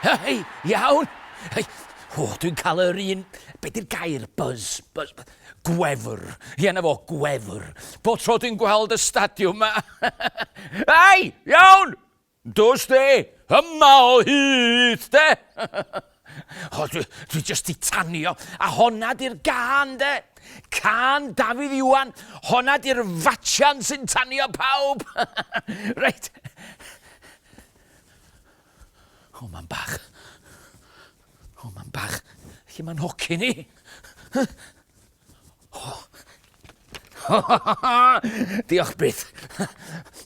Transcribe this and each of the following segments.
Hei, iawn! Hei, o, dwi'n cael yr un... Be di'r gair? Buzz. Buzz. Gwefr. Ie, na fo, gwefr. Bo tro dwi'n gweld y stadiwm yma. Hei, iawn! Dos de! Yma o hyd de! O, dwi, dwi just di tanio. A honna di'r gan de. Can Dafydd Iwan. Honna di'r fatsian sy'n tanio pawb. reit. O, mae'n bach. O, mae'n bach. Lle mae'n hoci ni? Diolch byth.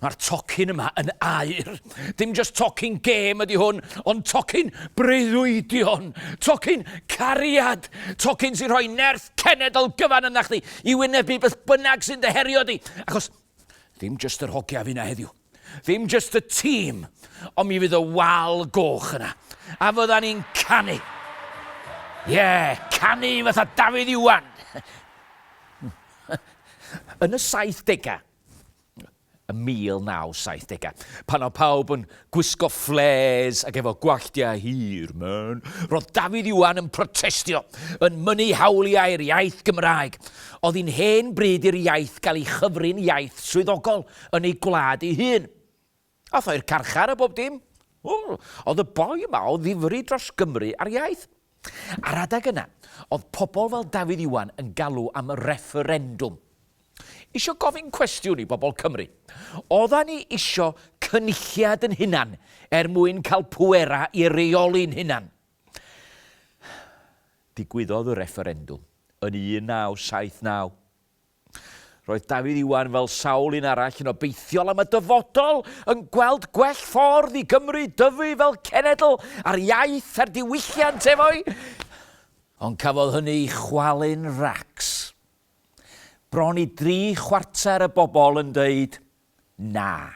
Mae'r tocyn yma yn air. Dim just tocyn gêm ydy hwn, ond tocyn breuddwydion, tocyn cariad, tocyn sy'n rhoi nerth cenedl gyfan yna chdi i wynebu beth bynnag sy'n dyherio di. Achos dim just yr hogia fi na heddiw. Ddim jyst y tîm, ond mi fydd y wal goch yna. A fydda ni'n canu. Ie, yeah, canu fatha Dafydd Iwan. Yn y 70au, y 1970au, pan o pawb yn gwisgo fflês ac efo gwalltiau hir, man, roedd Dafydd Iwan yn protestio, yn mynnu hawliau'r iaith Gymraeg. Oedd hi'n hen bryd i'r iaith gael ei chyfrin iaith swyddogol. yn ei gwlad ei hun. Ath o i'r carchar a bob dim. Oedd y boi yma o ddifri dros Gymru a'r iaith. Ar adeg yna, oedd pobl fel Dafydd Iwan yn galw am refferendwm. Isio gofyn cwestiwn i bobl Cymru. Oedda ni isio cynulliad yn hunan er mwyn cael pwera i reoli'n hunan. Digwyddodd y refferendwm yn 1979. Roedd Dafydd Iwan, fel sawl un arall, yn obeithiol am y dyfodol, yn gweld gwell ffordd i Gymru dyfu fel cenedl a'r iaith a'r diwylliant efo'i Ond cafodd hynny ei chwalu'n racs. Bron i dri chwarter y bobl yn dweud 'na'.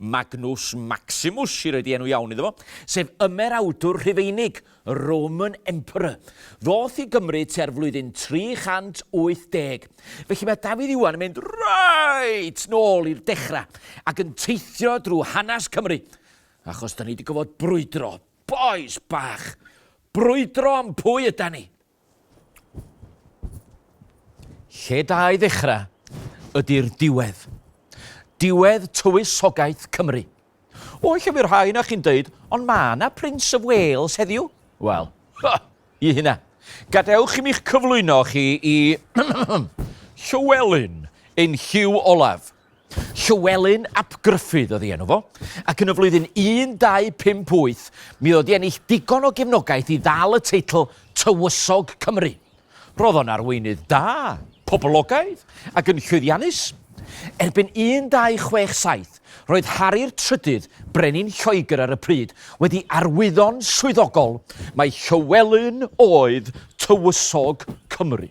Magnus Maximus, sydd wedi enw iawn iddo fo, sef ymerawdwr Rhufeinig, Roman Emperor. Ddoth i Gymru tua'r flwyddyn 380. Felly mae Dafydd Iwan yn mynd reit nôl i'r dechrau ac yn teithio drwy hanes Cymru, achos da ni wedi gofod brwydro, bois bach, brwydro am pwy yda ni. Lle da i ddechrau ydy'r diwedd. Diwedd tywysogaeth Cymru. O, lle fydd rhai na chi'n dweud, ond mae yna Prince of Wales heddiw. Wel, ha, i hynna. Gadewch i mi'ch cyflwyno chi i Llywelyn ein Hugh Olaf. Llywelyn ap Gruffudd oedd ei enw fo, ac yn y flwyddyn 1258 mi oedd o 'di ennill digon o gefnogaeth i ddal y teitl Tywysog Cymru. Roedd o'n arweinydd da, poblogaidd ac yn llwyddiannus. Erbyn 1267, roedd Hari'r Trydydd, brenin Lloegr ar y pryd, wedi arwyddo'n swyddogol mai Llywelyn oedd Tywysog Cymru.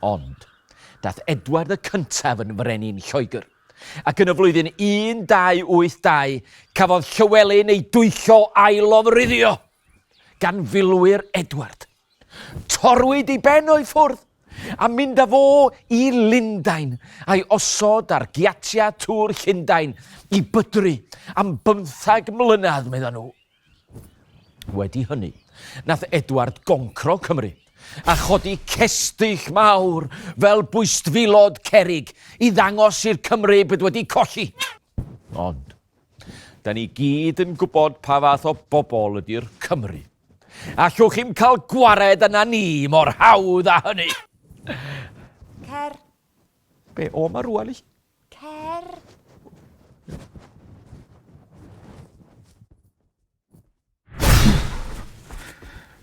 Ond, daeth Edward y Cyntaf yn frenin Lloegr, ac yn y flwyddyn 1282 cafodd Llywelyn ei dwyllo a'i lofruddio gan filwyr Edward. Torwyd ei ben o'i ffwrdd, a mynd â fo i Lundain, a'i osod ar giatiau Tŵr Llundain i bydru am bymthag mlynedd, meddai nhw. Wedi hynny, nath Edward goncro Cymru, a chodi cestyll mawr fel bwystfilod cerig i ddangos i'r Cymry bod wedi colli. Ond, da ni gyd yn gwybod pa fath o bobl ydy'r Cymry. Allwch chi'm cael gwared yna ni mor hawdd â hynny! Cer! Be, o ma rwan i? Cer!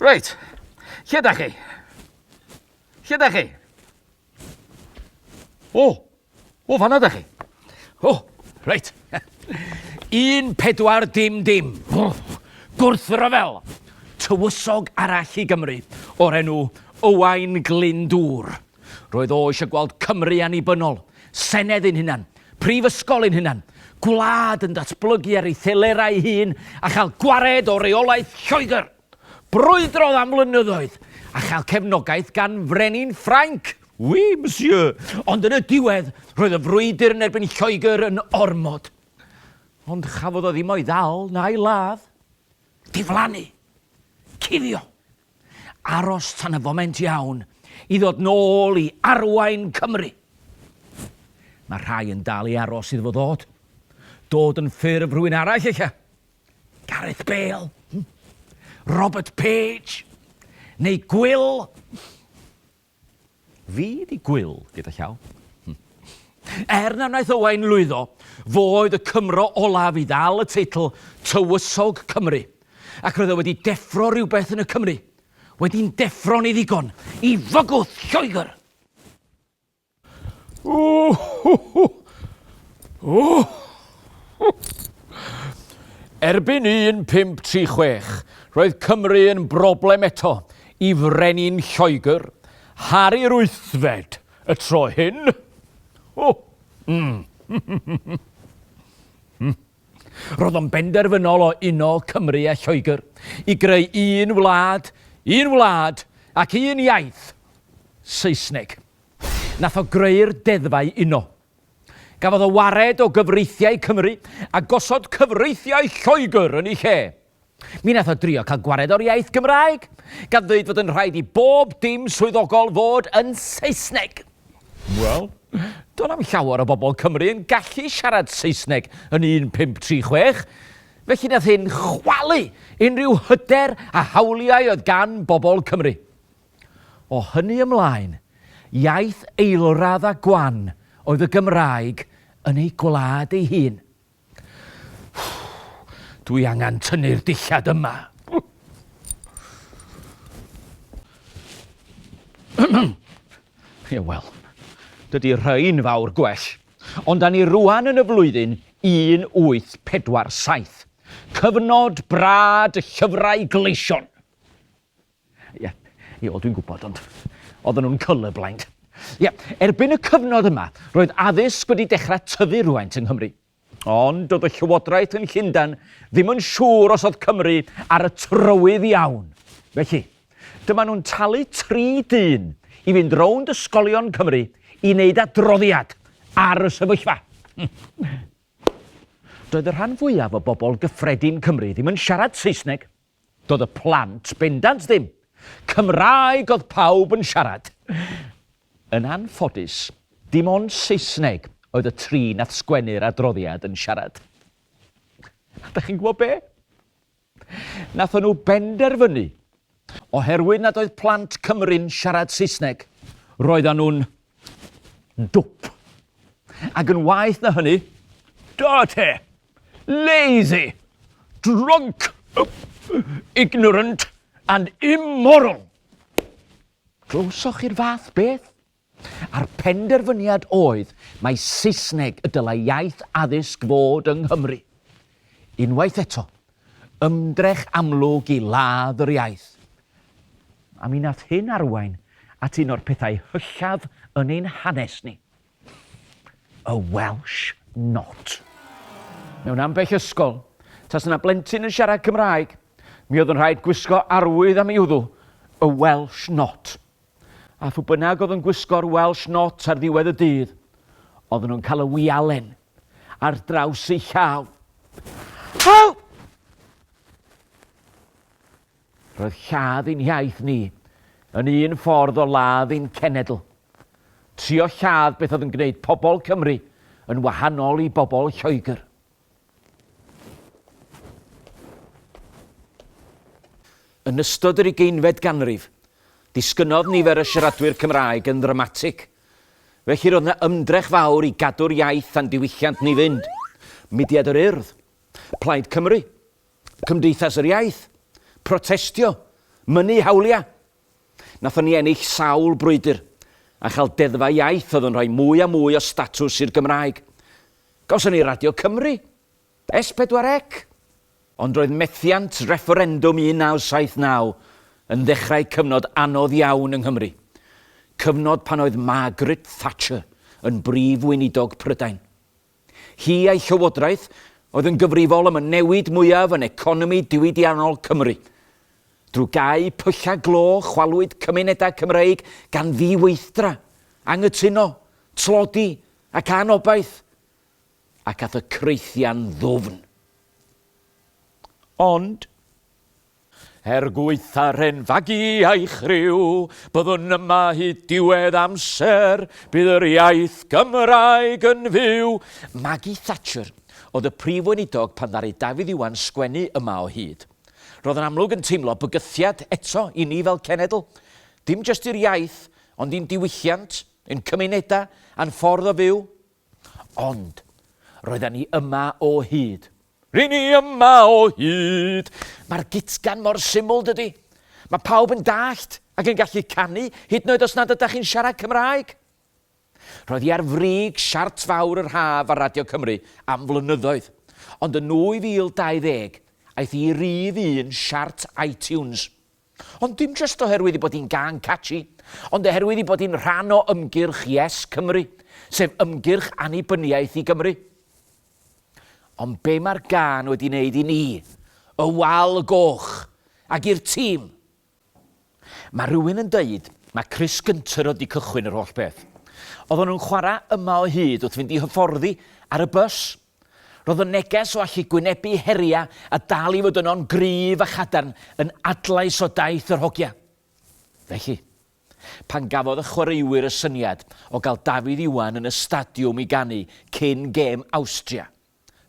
Reit, lle da chi? Lle da chi? O, o fanna da chi. O, reit. Un pedwar dim dim. O, gwrthryfel. Tywysog arall i Gymru o'r enw Owain Glyndŵr. Roedd o eisiau gweld Cymru annibynnol, senedd ein hunan, prifysgol ein hunan, gwlad yn datblygu ar ei thelerau ei hun a chael gwared o reolaeth Lloegr. Brwydrodd am flynyddoedd a chael cefnogaeth gan frenin Ffrainc. Oui, monsieur. Ond yn y diwedd, roedd y frwydr yn erbyn Lloegr yn ormod. Ond chafodd o ddim o'i ddal na'i ladd. Diflannu. Cuddio. Aros tan y foment iawn i ddod nôl i arwain Cymru. Mae rhai yn dal i aros iddo fo ddod. Dod yn ffurf rhywun arall ella. Gareth Bale, hmm? Robert Page, neu Gwyl. Fi 'di gwyl gyda llaw. Er na wnaeth Owain lwyddo, fo oedd y Cymro olaf i ddal y teitl Tywysog Cymru, ac roedd e wedi deffro rhywbeth yn y Cymry, wedi'n deffro'n ei ddigon i fygwth Lloegr! Erbyn 1536, roedd Cymru yn broblem eto, Y Frenin Lloegr, Harri yr Wythfed, y tro hyn. O! Mm. Roedd o'n benderfynol o uno Cymru a Lloegr i greu un wlad, un wlad ac un iaith, Saesneg. Nath o greu'r deddfau uno. Gafodd o wared o gyfreithiau Cymru a gosod cyfreithiau Lloegr yn ei lle. Mi wnaeth o drio cael gwared o'r iaith Gymraeg, gan ddweud fod yn rhaid i bob dim swyddogol fod yn Saesneg. Wel, do'n na'm llawer o bobl Cymru yn gallu siarad Saesneg yn 1536, felly nath hyn chwalu unrhyw hyder a hawliau oedd gan bobl Cymru. O hynny ymlaen, iaith eilradd a gwan oedd y Gymraeg yn ei gwlad ei hun. Dwi angen tynnu'r dillad yma. Ie, wel, dydy rhain fawr gwell. Ond da ni rwan yn y flwyddyn 1847. Cyfnod brad y llyfrau gleision. Ie, ie, wel dwi'n gwybod, ond oedden nhw'n colourblind. Ie, erbyn y cyfnod yma, roedd addysg wedi dechrau tyfu rhywfaint yng Nghymru. Ond doedd y llywodraeth yn Llundain ddim yn siŵr os oedd Cymru ar y trywydd iawn. Felly, dyma nhw'n talu tri dyn i fynd rownd ysgolion Cymru i wneud adroddiad ar y sefyllfa. Doedd y rhan fwyaf o bobl gyffredin Cymru ddim yn siarad Saesneg, Doedd y plant bendant ddim. Cymraeg oedd pawb yn siarad. Yn anffodus, dim ond Saesneg oedd y tri nath sgwennu'r adroddiad yn siarad. A dach chi'n gwybod be? Nathon nhw benderfynu, oherwydd nad oedd plant Cymru'n siarad Saesneg, roeddan nhw'n Dwp. Ac yn waeth na hynny, dirty, lazy, drunk, ignorant and immoral. Glywsoch chi'r fath beth? A'r penderfyniad oedd mae Saesneg y dylai iaith addysg fod yng Nghymru. Unwaith eto, Ymdrech amlwg i ladd yr iaith. A mi nath hyn arwain at un o'r pethau hyllaf yn ein hanes ni. Y Welsh Not. Mewn ambell ysgol, tasa 'na blentyn yn siarad Cymraeg, mi oedd yn rhaid gwisgo arwydd am ei wddw, y Welsh Not. A phw bynnag oedd yn gwisgo'r Welsh Not ar ddiwedd y dydd, oedden nhw'n cael y wialen. ar draws ei llaw. Help! Roedd lladd ein hiaith ni yn un ffordd o ladd ein cenedl. Trio lladd beth oedd yn gwneud pobl Cymru yn wahanol i bobl Lloegr. Yn ystod yr ugeinfed ganrif, disgynnodd nifer y siaradwyr Cymraeg yn ddramatig – Felly roedd yna ymdrech fawr i gadw'r iaith a'n diwylliant ni fynd. Mudiad yr Urdd, Plaid Cymru, Cymdeithas yr Iaith, protestio, mynnu hawliau. Nathon ni ennill sawl brwydr a chael deddfau iaith oedd yn rhoi mwy a mwy o statws i'r Gymraeg. Gawson ni Radio Cymru, S4C, ond roedd methiant refferendwm 1979 yn ddechrau cyfnod anodd iawn yng Nghymru, cyfnod pan oedd Margaret Thatcher yn Brif Weinidog Prydain. Hi a'i llywodraeth oedd yn gyfrifol am y newid mwyaf yn economi diwydiannol Cymru. Drwy gau pyllau glo chwalwyd cymunedau Cymreig gan ddiweithdra, anghytuno, tlodi ac anobaith. ac a'th y creithian ddwfn. Ond, er gwaetha'r hen fagu a'i chriw, byddwn yma hyd diwedd amser, bydd yr iaith Gymraeg yn fyw! Maggie Thatcher oedd y Prif Weinidog pan ddaru Dafydd Iwan sgwennu yma o hyd. Roedd yn amlwg yn teimlo bygythiad eto i ni fel cenedl, dim jyst i'r iaith, ond i'n diwylliant, ein cymunedau, a'n ffordd o fyw. Ond, roedden ni yma o hyd. Ry'n ni yma o hyd! Mae'r gitgan mor syml, dydy? Mae pawb yn dallt ac yn gallu canu, hyd yn oed os nad ydych chi'n siarad Cymraeg. Roedd hi ar frig siart fawr yr haf ar Radio Cymru am flynyddoedd, ond yn 2020 aeth hi i rif un siart iTunes. Ond dim jyst oherwydd ei bod hi'n gân catchy, ond oherwydd ei bod hi'n rhan o ymgyrch Yes Cymru, sef ymgyrch annibyniaeth i Gymru. Ond be mae'r gân wedi wneud i ni, y Wal y Goch, ac i'r tîm? Mae rhywun yn dweud mae Chris Gunter oedd wedi cychwyn yr holl beth. Oedden nhw'n chwarae yma o hyd wrth fynd i hyfforddi ar y bws. Roedd y neges o allu gwynebu heriau a dal i fod yno'n gryf a chadarn yn adlais o daith yr hogia. Felly, pan gafodd y chwaraewyr y syniad o gael Dafydd Iwan yn y stadiwm i ganu cyn gêm Awstria,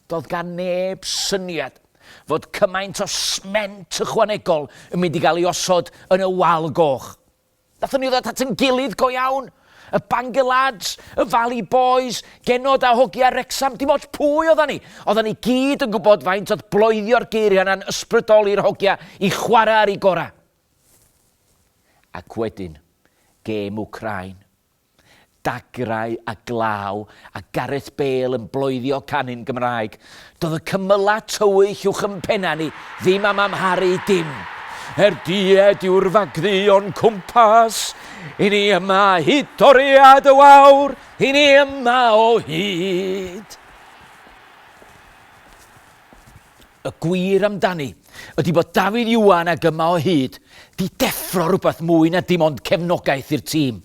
doedd gan neb syniad fod cymaint o sment ychwanegol yn mynd i gael ei osod yn y wal goch. Nathon ni ddod at yn gilydd go iawn. Y Bangor Lads, y Valley Boys, Genod a Hogia Wrecsam, dim ots pwy oddan ni, oddan ni gyd yn gwybod faint oedd bloedio'r geiriau yna'n ysbrydoli'r hogia i chwarae ar eu gorau. Ac wedyn, gêm Wcráin. Dagrau a glaw a Gareth Bale yn bloeddio canu'n Gymraeg. Doedd y cymylau tywyll uwch yn pennau ni ddim am amharu dim. Er died yw'r fagddu o'n cwmpas, i ni yma hyd toriad y wawr, i ni yma o hyd. Y gwir amdani ydi bod Dafydd Iwan ag Yma o Hyd 'di deffro rhywbeth mwy na dim ond cefnogaeth i'r tîm.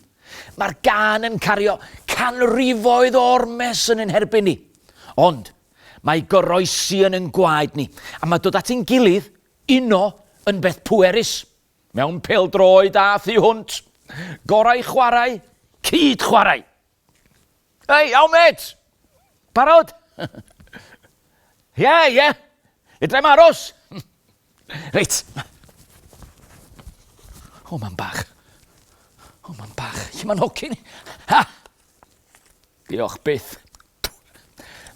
Mae'r gân yn cario canrifoedd o ormes yn ein herbyn ni. Ond, mae goroesi yn ein gwaed ni, a mae dod at ein gilydd, uno, yn beth pwerus. Mewn pêl-droed a thu hwnt. Gorau chwarae, cyd-chwarae! Hei, iawn mêt! Barod? Ie, ie. Fedrai'm aros. Reit. O, mam bach. O, mam bach. Lle mae'n hocyn? Ha! Diolch byth.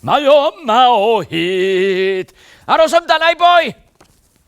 Mae o yma o hyd. Aros amdana i boi!